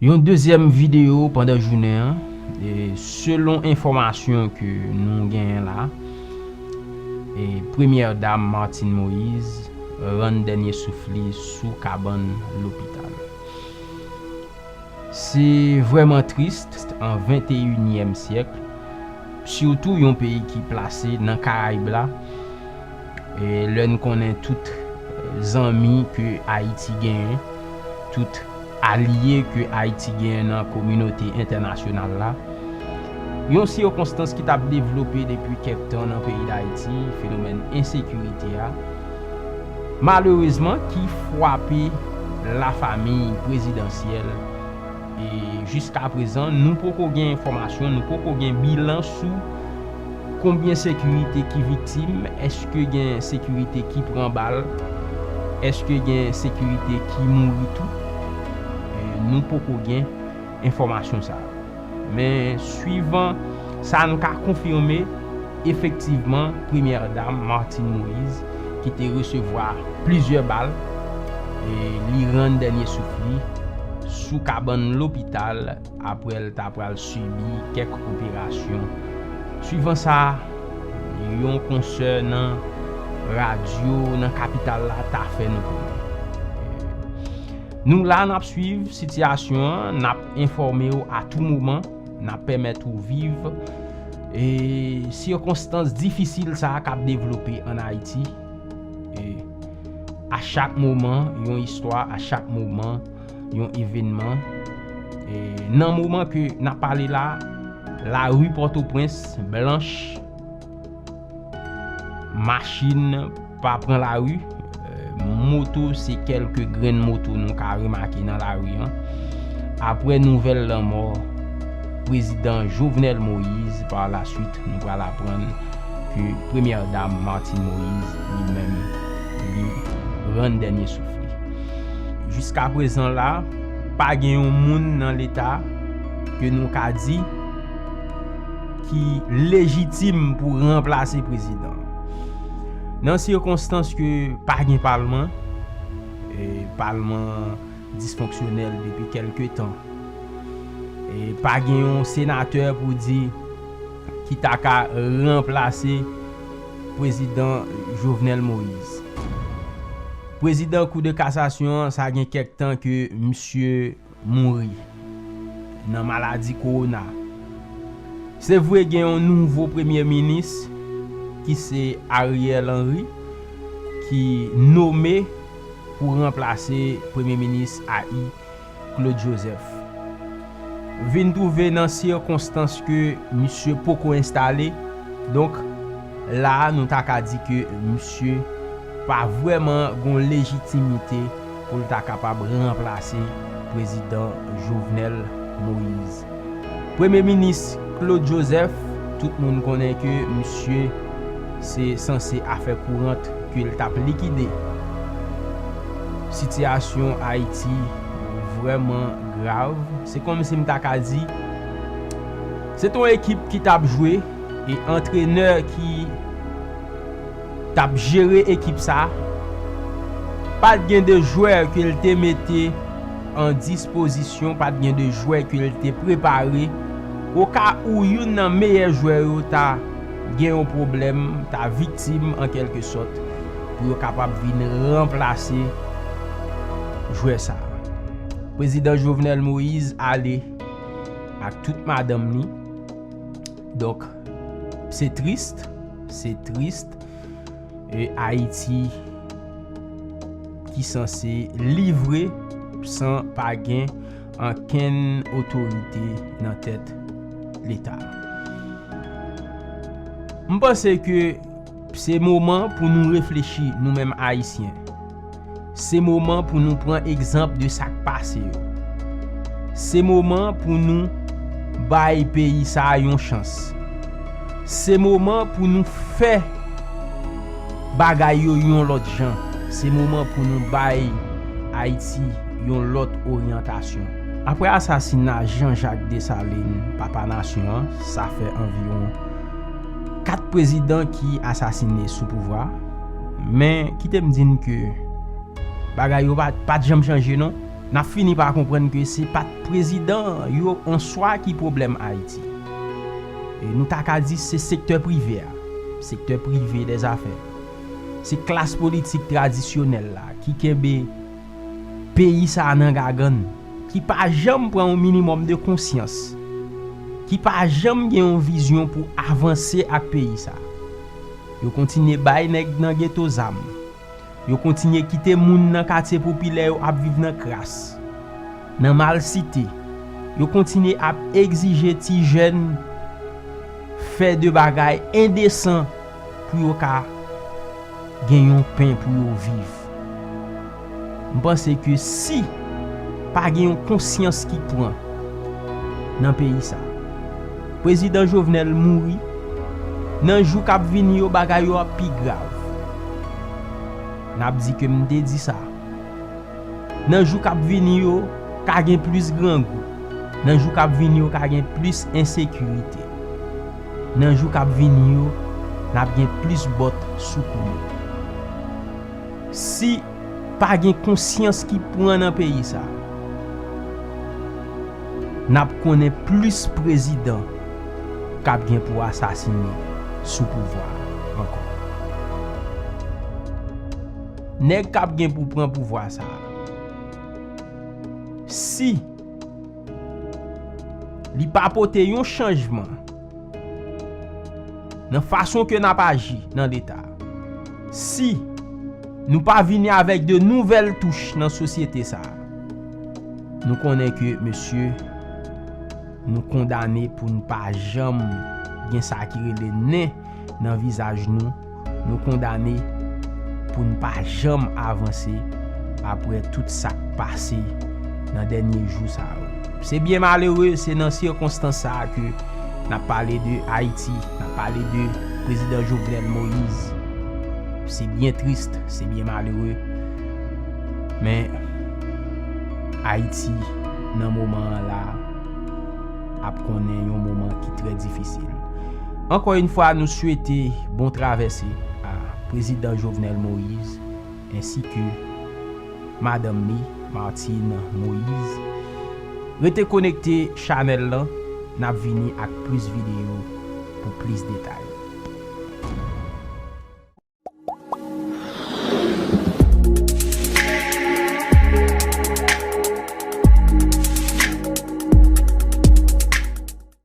Yon dezyèm videyo pandan jounen an, selon enfòmasyon ke nou genyen la, Premyè Dam Martine Moïse rann dènye souf li sou kabann lopital. Se vrèman tris an venteyinyèm syèk, sitou yon peyi ki plase nan Karayib la, Lè n konnen tout zanmi ke Ayiti genyen, tout alye ke Ayiti genyen nan kominote entènasyonal la, yon sikonstans ki t ap devlope depi kèk tan nan peyi Dayiti, fenomèn ensekirite a, malerezman ki fwape lafamiy prezidansyèl e jiskaprezan nou poko gen enfòmasyon, nou poko gen bilan sou. Konbyen sekirite ki viktim, eske gen sekirite ki pran bal, eske gen sekirite ki mouri tou? Nou poko gen enfòmasyon sa yo. Men swivan sa nou ka konfime, efektivman premyè dam Martine Moïse ki te resevwa plizyè bal, li rann dènye souf li sou kabann lopital. Apre l ta pral sibi kèk operasyon. Suivan sa, yon konsè nan radyo nan kapital la ta fè nou konnen. Nou la n ap suiv sitiyasyon an, n ap enfòme w a tou moman, n ap pèmèt ou viv sikonstans difisil sa k ap devlope ann Ayiti. A chak moman, yon istwa, a chak moman. yon evenman e nan moman ke nan pale la la rue Pòtoprens blanch machin pa pran la rue moto se kelke grenn moto nou ka remake nan la rue an apre nouvèl lanmò prezidan Jovenel Moïse par la suite nou pral aprann ke premyè dam Martine Moïse li menm li rann dènye souf li. Jiska prezan la, pa gen yon moun nan leta ke nou ka di ki lejitim pou ranplase prezidan. Nan sikonstans ke pa gen palman, e palman disfonksyonèl depi kelke tan, e pa gen yon senatè pou di ki ta ka ranplase prezidan Jovenel Moise. Prezidan kou de kasasyon an sa gen kèk tan ke misye mouri nan maladi kowona. Se vre gen yon nouvo premye minis ki se Ariel Henry ki nome pou ranplase premye minis AI. Claude Joseph vin twouve nan sikonstans ke misye poko enstale, donk la a nou ta ka di ke misye pa vrèman gon lejitimite pou l ta kapab ranplase Prezidan Jovenel Moise. Premye minis Claude Joseph, tout moun konnen ke misye se sanse afè kourant ke l t ap likide. Sitiyasyon Ayiti vrèman grav. Se kòmsi m ta ka di, se t on ekip ki t ap jwe e antrenè ki. tap jere ekip sa, pat gen de jwè ke l te mete an dispozisyon, pat gen de jwè ke l te prepare, oka ou youn nan meyè jwè yo ta gen yon pwoblèm, ta viktim an kèlke sòt, pou yo kapab vin ranplase jwè sa. Prezidan Jovenel Moïse ale ak tout madanm li. Donk se triste, se triste e Ayiti ki sanse livre san pa gen ankenn otorite nan tèt leta. M panse ke se moman pou nou reflechi nou menm Ayisyen. Se moman pou nou pran egzanp de sa k pase yo. Se moman pou nou bay peyi sa a yon chans. Se moman pou nou fè bagay yo yon lòt jan. Se moman pou nou bay Ayiti yon lòt oryantasyon. Apre asasina Jean Jacques Dessalines, papa nasyon an, sa fè anviwon 4 prezidan ki asasine sou pouvwa. Men kite m di n ke bagay yo pa t janm chanje non. N ap fini pa konprann ke se pa t prezidan yo an swa ki pwoblèm Ayiti. Nou ta ka di se sektè prive a, sektè prive dè zafè. Se klas politik tradisyonèl la ki kenbe peyi sa a nan gagann, ki pa janm pran yon minimòm de konsyans, ki pa janm gen yon vizyon pou avanse ak peyi sa a. Yo kontinye bay nèg nan geto zam. Yo kontinye kite moun nan katye popilè yo ap viv nan kras, nan malsite. Yo kontinye ap egzije ti jèn fè de bagay endesan pou yo ka gen yon pen pou yo viv. M panse ke si pa gen yon konsyans ki pran nan peyi sa. Prezidan Jovenel mouri, nan jou k ap vini yo bagay yo ap pi grav. N ap di ke m te di sa. Nan jou k ap vini yo ka gen plis grangou, nan jou k ap vini yo ka gen plis ensekirite. Nan jou kap vini yo nap gen plis bòt sou kou nou. Si pa gen konsyans ki pran nan peyi sa nap konnen plis prezidan kap gen pou asasine sou pouvwa ankò. Nèg kap gen pou pran pouvwa sa si. Li pa pote yon chanjman nan fason ke nap aji nan leta. Si nou pa vini avèk de nouvèl touch nan sosyete sa, nou konnen ke mesye nou kondane pou nou pa janm gen sa ki rele nen nan vizaj nou. Nou kondane pou n pa janm avanse apre tout sa k pase nan dènye jou sa yo. Se byen malere se nan sikonstans sa a ke n ap pale de Ayiti, n ap pale de Prezidan Jovenel Moïse. Se byen trist, se byen malere, men Ayiti nan moman an la ap konnen yon moman ki trè difisil. Ankò yn fwa nou swete bon travèse a Prezidan Jovenel Moise ensi ke Madanm ni Martine Moise. Rete konekte chanèl lan nap vini ak plis videyo pou plis detay.